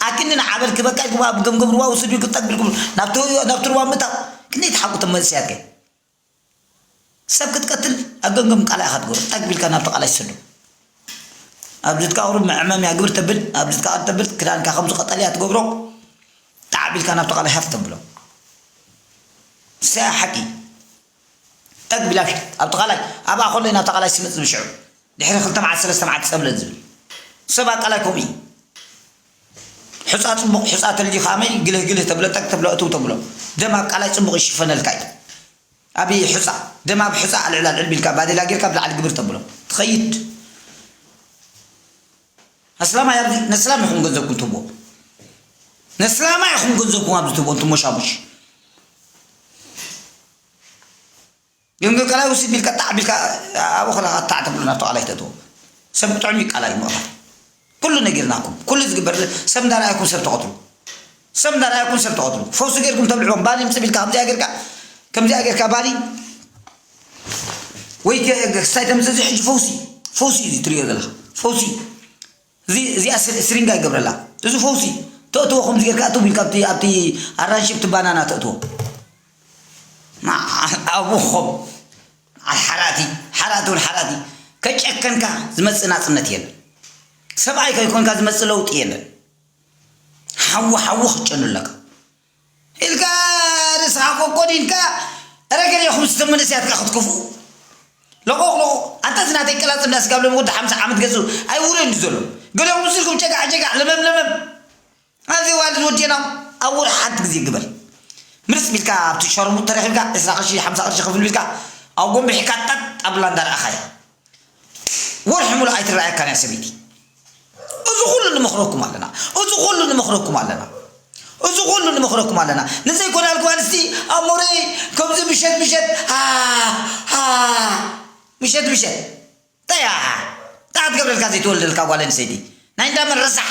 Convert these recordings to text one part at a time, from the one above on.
ኣክንዲ ንዓበል ክበቃይ ጉባኣ ብገምገም ሩባ ውስዱ ክጠግ ብልኩም ናብቲ ሩባ ምታው ክንደይ ተሓቁ ቶም መንእሰያት ከ ሰብ ክትቀትል ኣብ ገምገም ቃላይ ኢኻ ትገብሮ ጠግ ቢልካ ናብቲ ቃላይ ትሰዱ ኣብ ድትካ ቁሩብ መዕመምያ ግብር ተብል ኣብ ድትካ ቃል ተብል ክዳንካ ከምዚ ቀጠልያ ትገብሮ ጣዕ ቢልካ ናብቲ ቃላይ ሃፍ ተብሎ ሰያ ሓቂ ጠግ ቢላ ፊጥ ኣብቲ ቃላይ ኣብኣ ከሎ እዩ ናብታ ቃላይ ስምጥ ዝብል ሽዑ ድሕሪ ክልተ መዓልቲ ሰለስተ መዓልቲ ጸብለል ዝብል ሰባ ቃላይ ከምኡ እዩ ሑጻ ጽቡቕ ሑጻ ተልዩ ከኣመይ ግልህ ግልህ ተብሎ ጠግ ተብሎ እትው ተብሎ ደም ኣብ ቃላይ ጽቡቕ ይሽፈነልካ እዩ ኣብ ሑጻ ደም ኣብ ሑጻ ኣልዕል ኣልዕል ቢልካ ባዴላ ጌርካ ብላዕሊ ግብር ተብሎ ትኸይድ ኣስላማይ ኣብዚ ነስላም ኢኹም ገንዘብኩም ትህብዎ ነስላማይ ኢኹም ገንዘብኩም ኣብዚ ትህብዎ እንትሞሻሙሽ ግን ከላይ ውስድ ቢልካ ጣዕ ቢልካ ኣብኡ ከለካ ጣዕ ተብሉ ናብቲ ቃላይ ተእትዎ ሰብ ጥዑም ይቃላይ ምቕታል ኩሉ ነጊርናኩም ኩሉ ዝግበር ሰብ እንዳረኣይኩም ሰብ ተቐትሉ ሰብ እንዳ ርኣኩም ሰብ ትቀትሉ ፈውሲ ጌርኩም ተብልዕዎም ባሊ ምጽብ ኢልካ ከምዚኣ ጌርካ ከምዚኣ ጌርካ ባሊ ወይ ክስታይ ተምጽእ እዚ ሕጂ ፈውሲ ፈውሲ እዚ ትርእዮ ዘለካ ፈውሲ እዚ እዚኣ ስሪንጋ ይገብረላ እዚ ፈውሲ ተእትዎ ከምዚ ጌርካ እትው ኢልካ ኣብቲ ኣብቲ ኣራንሺ ኣብቲ ባናና ተእትዎ ኣቡኹም ሓራቲ ሓራቲ ውን ሓራቲ ከጨከንካ ዝመጽእ ናጽነት የለን ሰብኣይ ከይኮንካ ዝመጽእ ለውጢ የለን ሓዊ ሓዊ ክትጨኑ ኣለካ ኢልካ ርእስኻ ኮኮድ ኢልካ እረ ገሊኹም ስቶም መንእሰያት ከ ክትከፍኡ ለቆቕ ለቆቕ ኣታ እዚ ናተይ ቀላጽ እንዳ ስጋብ ሎም ወዲ ሓምሳ ዓመት ገዝኡ ኣይውረን እዩ ዘሎ ገሊኹም ምስ ኢልኩም ጨጋዕ ጨጋዕ ለመም ለመም ኣዚ ዋልድ ወዲና ኣብ ወርሒ ሓንቲ ግዜ ግበር ምርጽ ቢልካ ኣብቲ ሸርሙጥ ተረኺብካ ዕስራ ቅርሺ ሓምሳ ቅርሺ ክፍል ቢልካ ኣብ ጎንቢሕካ ጠጥ ኣብላ እንዳ ረኣኻያ ወርሒ ሙሉእ ኣይትረኣየካን እያ ሰበይቲ እዚ ኩሉ ንመኽረኩም ኣለና እዚ ኩሉ ንመኽረኩም ኣለና እዚ ኩሉ ንመኽረኩም ኣለና ንዘይኮናል ጓል እስቲ ኣብ ሞረይ ከምዚ ምሸት ምሸት ምሸት ምሸት እንታይ እያ እንታይ ክትገብረልካ ዘይትወልደልካ ጓል ኣንስተይቲ ናይ እንዳመን ረሳሕ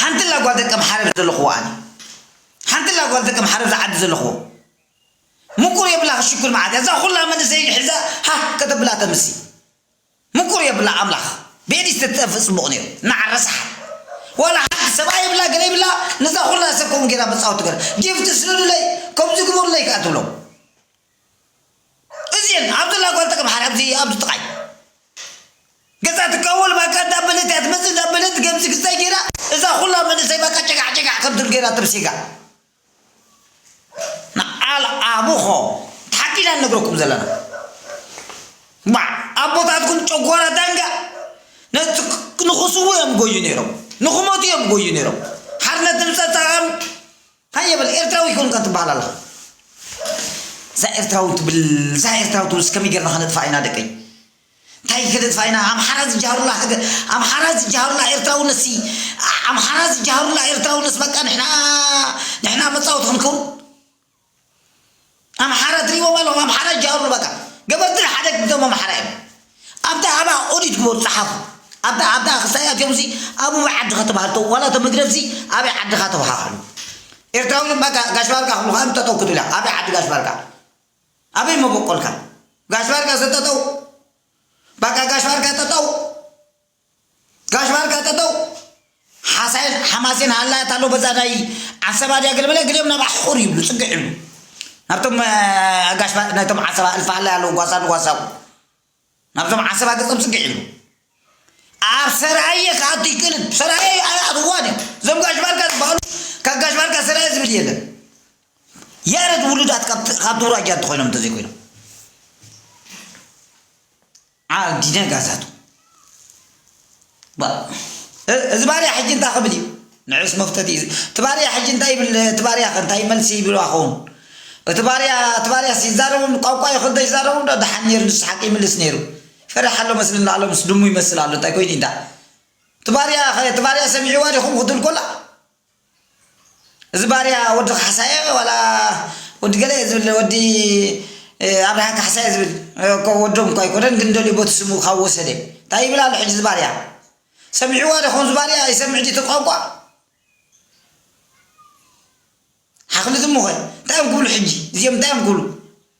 ሓንትላ ጓል ደቀም ሓረር ዘለኹዎ ኣነ ሓንትላ ጓል ደቀም ሓረር ዝዓዲ ዘለኹዎ ምቁር የብላ ክሽኩር መዓት እዛ ኩላ መንእሰይ ሒዛ ሃህ ከተብላ ተምሲ ምቁር የብላ ኣምላኽ ቤዲ ዝተጠፍእ ጽቡቕ ነይሩ እናዓረሳሓ ዋላ ሓንቲ ሰብኣይ የብላ ገለ ይብላ ነዛ ኩላ ሰብ ከምኡ ጌራ መጻወቲ ገረ ጊፍቲ ስደዱለይ ከምዚ ግበሩለይ ከኣ ትብሎም እዚኤን ኣብ ዘላ ጓል ተቀምሓር ኣብዚ ኣብዚ ጥቃይ ገዛ ትካወል ባቃ እንዳ በለት እያ ትመጽእ እንዳ በለት ገምዚ ክስታይ ጌራ እዛ ኩላ መንእሰይ ባቃ ጨጋዕ ጨጋዕ ከም ትብል ጌራ ተብሲጋ ንዓል ኣቡኾ ሓቂና ንነግረኩም ዘለና ባዕ ኣቦታትኩም ጨጓራ ዳንጋ ንክስዉ እዮም ጎዩ ነይሮም ንክሞቱ እዮም ጎዩ ነይሮም ሓርነት ንምፀፃም ሃየ በል ኤርትራዊ ኣይኮንካን ትበሃል ኣለኻ እዛ ኤርትራዊ ትብል እዛ ኤርትራዊ ትብል እስከመይ ጌርና ከነጥፋ ኢና ደቀይ እንታይ ከነጥፋ ኢና ኣምሓራ ዝጀሃሩላ ሃገር ኣምሓራ ዝጀሃሩላ ኤርትራውነት ሲ ኣምሓራ ዝጀሃሩላ ኤርትራውነት በቃ ንሕና ንሕና መጻወቲ ክንከውን ኣምሓራ ትሪእዎም ኣለኹም ኣምሓራ ጃውሩ በቃ ገበርቲ ሓደ ክብቶም ኣምሓራ እዮም ኣብታ ኣባ ኦዲት ግበሩ ጸሓፉ ኣብታ ኣብታ ክሳይ ኣትዮም ሲ ኣቡበይ ዓድኻ ተባህል ተው ዋላ እቶም ህግደፍ ሲ ኣበይ ዓድኻ ተባሃሉ ኤርትራዊ በቃ ጋሽ ባርካ ክብሉ ከኣ ጠጠው ክትብላ ኣበይ ዓዲ ጋሽ ባርካ ኣበይ መበቆልካ ጋሽ ባርካ ሰጠጠው በቃ ጋሽ ባርካ ጠጠው ጋሽ ባርካ ጠጠው ሓሳይን ሓማሴን ሃላያት ኣሎ በዛ ናይ ዓሰባ ድያ ገለ በለ ገሊኦም ናብ ኣሕቑር ይብሉ ፅግዕ ይብሉ ናብቶም ጋሽ ናይቶም ዓሰባ እልፊ ሃላይ ኣለዉ ጓሳ ንጓሳኹ ናብቶም ዓሰባ ገፆም ፅግዕ ይብሉ ኣብ ሰራየ ክኣቱ ይክእልን ሰራየ ኣይኣትዋን እዩ እዞም ጋሽ ባርካ ዝበሃሉ ካብ ጋሽ ባርካ ሰራየ ዝብል የለን ያረት ውሉዳት ካብ ትውራጃ እንተኮይኖም እንተዘይኮይኖም ዓኣብ ዲነ ጋዛቱ ባእ እ እዚ ባርያ ሕጂ እንታይ ክብል እዩ ንዑስ መፍተቲ እዩ እቲ ባርያ ሕጂ እንታይ ይብል እቲ ባርያ ከ እንታይ መልሲ ይብልዋ ክኸውን እቲ ባርያ እቲ ባርያስ ይዛረቡ ቋንቋ ይኹን ተይዛረቡ ዶ ደሓን ነይሩ ንሱ ሓቂ ይምልስ ነይሩ ይፈርሕ ኣሎ መስለኒ ኣሎ ምስ ድሙ ይመስል ኣሎ እንታይ ኮይኑ እንዳ እቲ ባርያ ከ እቲ ባርያ ሰሚዕዋ ዲኹም ክትብል ኮላ እዚ ባርያ ወዲ ካሕሳየ ዋላ ወዲ ገለ እየ ዝብል ወዲ ኣብርሃ ካሕሳይ እየ ዝብል እኮ ወዶም እኳ ኣይኮነን ግን ደልዩ ቦቲ ስሙ ካብ ወሰደ እንታይ ይብል ኣሎ ሕጂ ዝባርያ ሰሚዕዋ ዶ ከምዚ ባርያ ይሰምዕ ድዩ ቋንቋ ሓኽሊ ዝሙኸ እንታይ እዮም ክብሉ ሕጂ እዚኦም እንታይ እዮም ክብሉ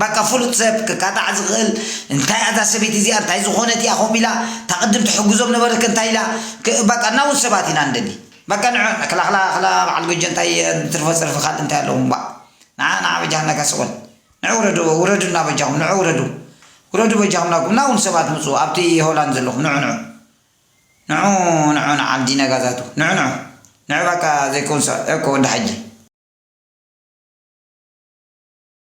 ባቃ ፍሉጥ ሰብ ክቃጣዕ ዝክእል እንታይ ኣዛ ሰበይቲ እዚኣ እንታይ ዝኮነት ኢያ ከምኡ ኢላ እታ ቅድም ትሕግዞም ነበረት ከ እንታይ ኢላ ባቃ ናውት ሰባት ኢና ንደሊ ባቃ ንዕ ክላ ክላ ክላ ባዓል ጎጆ እንታይ ትርፎ ጽርፊ ካልእ እንታይ ኣለዎም ባእ ንዓ ንዓ በጃካ እካ ስቆል ንዕ ውረዱ ውረዱና በጃኩም ንዑ ውረዱ ውረዱ በጃኩም ናብኩም ናውን ሰባት ምጹ ኣብቲ ሆላንድ ዘለኩም ንዑ ንዑ ንዑ ንዑ ንዓል ዲነጋዛቱ ንዑ ንዑ ንዑ ባቃ ዘይከውን ሰባት እኮ ወዲ ሓጂ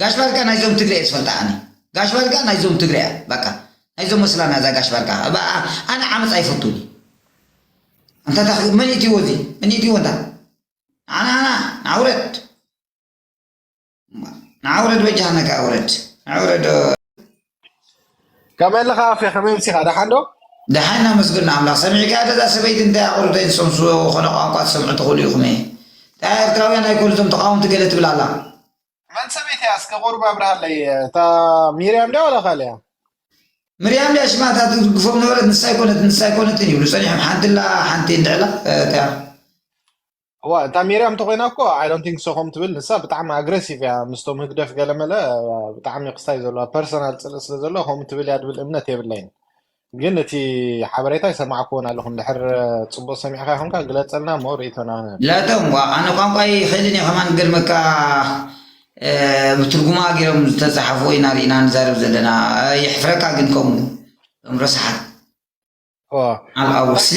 ጋሽ ባርካ ናይ ዞም ትግረ እየ ዝፈልጣ ኣነ ጋሽ ባርካ ናይ ዞም ትግረ እያ ባቃ ናይ ዞም መስላና እዛ ጋሽ ባርካ ኣነ ዓመፅ ኣይፈቱን ኣንታ ታ መን እትዎ እዚ መን እትዎ እንታ ንዓና ዓና ንዓውረድ ንዓውረድ በጃህነካ ኣውረድ ንዓውረድ ከመይ ኣለኻ ኣፌ ከመይ ምሲኻ ደሓን ዶ ደሓን ናመስግን ኣምላኽ ሰሚዕካ ደዛ ሰበይቲ እንታይ ኣቑርተይ ዝሰምሱ ዝኾነ ቋንቋ ትሰምዑ ትኽእሉ ኢኹም እየ ታ ኤርትራውያን ኣይኮኑ እዞም ተቃወምቲ ገለ ትብል ኣላ መን ሰበይቲ እያ እስከ ቁሩብ ኣብርሃለይ እታ ሚርያም ድያ ዋላ ካልእ እያ ምርያም ድያ ሽማ እታ ትድግፎም ነበረት ንሳ ኣይኮነትን ንሳ ኣይኮነትን ይብሉ ጸኒሖም ሓንቲ ኣላ ሓንቲ እንድዕላ እንታይ እያ እዋ እታ ሚርያም ተኮይና እኮ ኣይ ዶንት ቲንክ ሶ ከም ትብል ንሳ ብጣዕሚ ኣግሬሲቭ እያ ምስቶም ህግደፍ ገለመለ ብጣዕሚ ክስታይ ዘለዋ ፐርሰናል ፅልኢ ስለ ዘለዎ ከምኡ ትብል እያ ድብል እምነት የብለይን ግን እቲ ሓበሬታ ይሰማዕክዎን ኣለኹ እንድሕር ጽቡቅ ሰሚዕካ ይኹንካ ግለጸልና እሞ ርእይቶና ላቶም ዋ ኣነ ቋንቋ ይኽእልን እየ ከማን ግን መካ ብትርጉማ ገይሮም ዝተጻሓፍዎ ኢና ርኢና ንዛረብ ዘለና የሕፍረካ ግን ከምኡ እቶም ረሳሓት ኦ ዓብኣ ወስሌ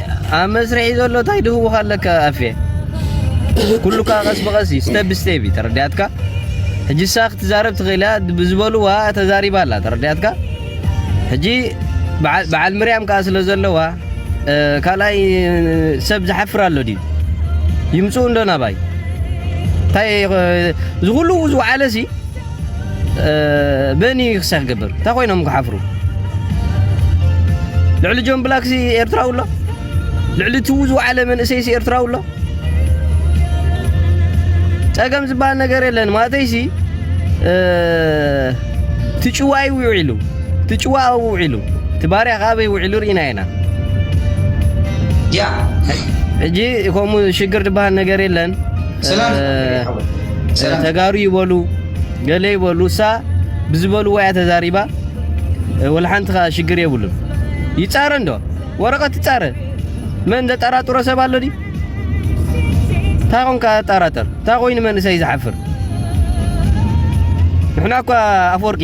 ኣብ መስርሒ ዘሎ ታይ ድህውኽ ኣለካ ኣፌ ኩሉ ከኣ ቀስ ብቀስ እዩ ስተብ ስቴብ እዩ ተረዲኣትካ ሕጂ እሳ ክትዛረብ ትኽእል እያ ብዝበልዋ ተዛሪባ ኣላ ተረዲኣትካ ሕጂ በዓል ምርያም ከኣ ስለ ዘለዋ ካልኣይ ሰብ ዝሓፍር ኣሎ ድዩ ይምፅኡ እንዶ ናባይ እንታይ ዝኹሉ ዝወዓለ ሲ በኒ ክሳዕ ክገብር እንታይ ኮይኖም ክሓፍሩ ልዕሊ ጆን ብላክሲ ኤርትራዊ ኣሎ ልዕሊ ትዉ ዝወዓለ መንእሰይሲ ኤርትራዊ ኣሎ ጸገም ዝበሃል ነገር የለን ማለተይሲ ትጭዋ እዩ ውዒሉ ትጭዋ ኣብኡ ውዒሉ ትባርያ ከዓ ኣበይ ውዒሉ ርኢና ኢና ሕጂ ከምኡ ሽግር ዝበሃል ነገር የለን ተጋሩ ይበሉ ገለ ይበሉ እሳ ብዝበልዎ እያ ተዛሪባ ወላሓንቲ ከኣ ሽግር የብሉን ይጻረ እንዶ ወረቐት ይጻረ መን ዘጠራጥሮ ሰብ ኣሎ ድዩ እንታይ ኮንካ ጠራጠር እንታይ ኮይኑ መንእሰይ ዝሓፍር ንሕና እኳ ኣፈወርቂ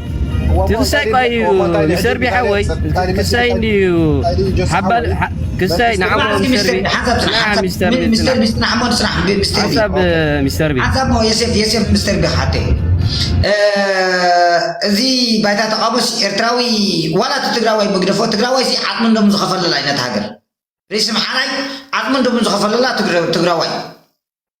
ትንሳይ ቋዩ ይሰርቢ ሓወይ ክሳይ እንድዩ ሓባል ክሳይ ንዓሞ ይሰርቢ ሚስተር ቢ ሚስተር ቢ ንዓሞ ስራሕ ሚስተር ቢ ሓሳብ ሚስተር ቢ ሓሳብ ሞ የሴፍ የሴፍ ሚስተር ቢ ሓቴ እዚ ባይታ ተቃቦስ ኤርትራዊ ዋላ እቲ ትግራዋይ ምግደፎ ትግራዋይ ሲ ዓቅሚ እንዶም ዝኸፈለላ ኣይነት ሃገር ርእሲ ምሓራይ ዓቅሚ እንዶም ዝኸፈለላ ትግራዋይ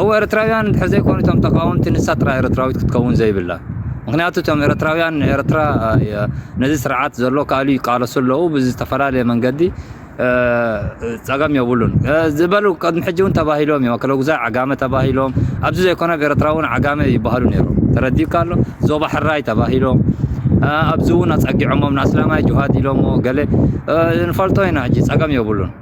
እወ ኤርትራውያን እንድሕር ዘይኮኑ እቶም ተቃወምቲ ንሳ ጥራይ ኤርትራዊት ክትከውን ዘይብላ ምክንያቱ እቶም ኤርትራውያን ንኤርትራ ነዚ ስርዓት ዘሎ ካሉ ይቃለሱ ኣለዉ ብዝተፈላለየ መንገዲ ጸገም የብሉን ዝበሉ ቅድሚ ሕጂ እውን ተባሂሎም እዮም ክለጉዛይ ዓጋመ ተባሂሎም ኣብዚ ዘይኮነ ኣብ ኤርትራ እውን ዓጋመ ይበሃሉ ነይሮም ተረዲካ ኣሎ ዞባ ሕራይ ተባሂሎም ኣብዚ እውን ኣጸጊዖሞም ንኣስላማይ ጅሃድ ኢሎሞ ገለ ንፈልጦ ኢና ሕጂ ጸገም የብሉን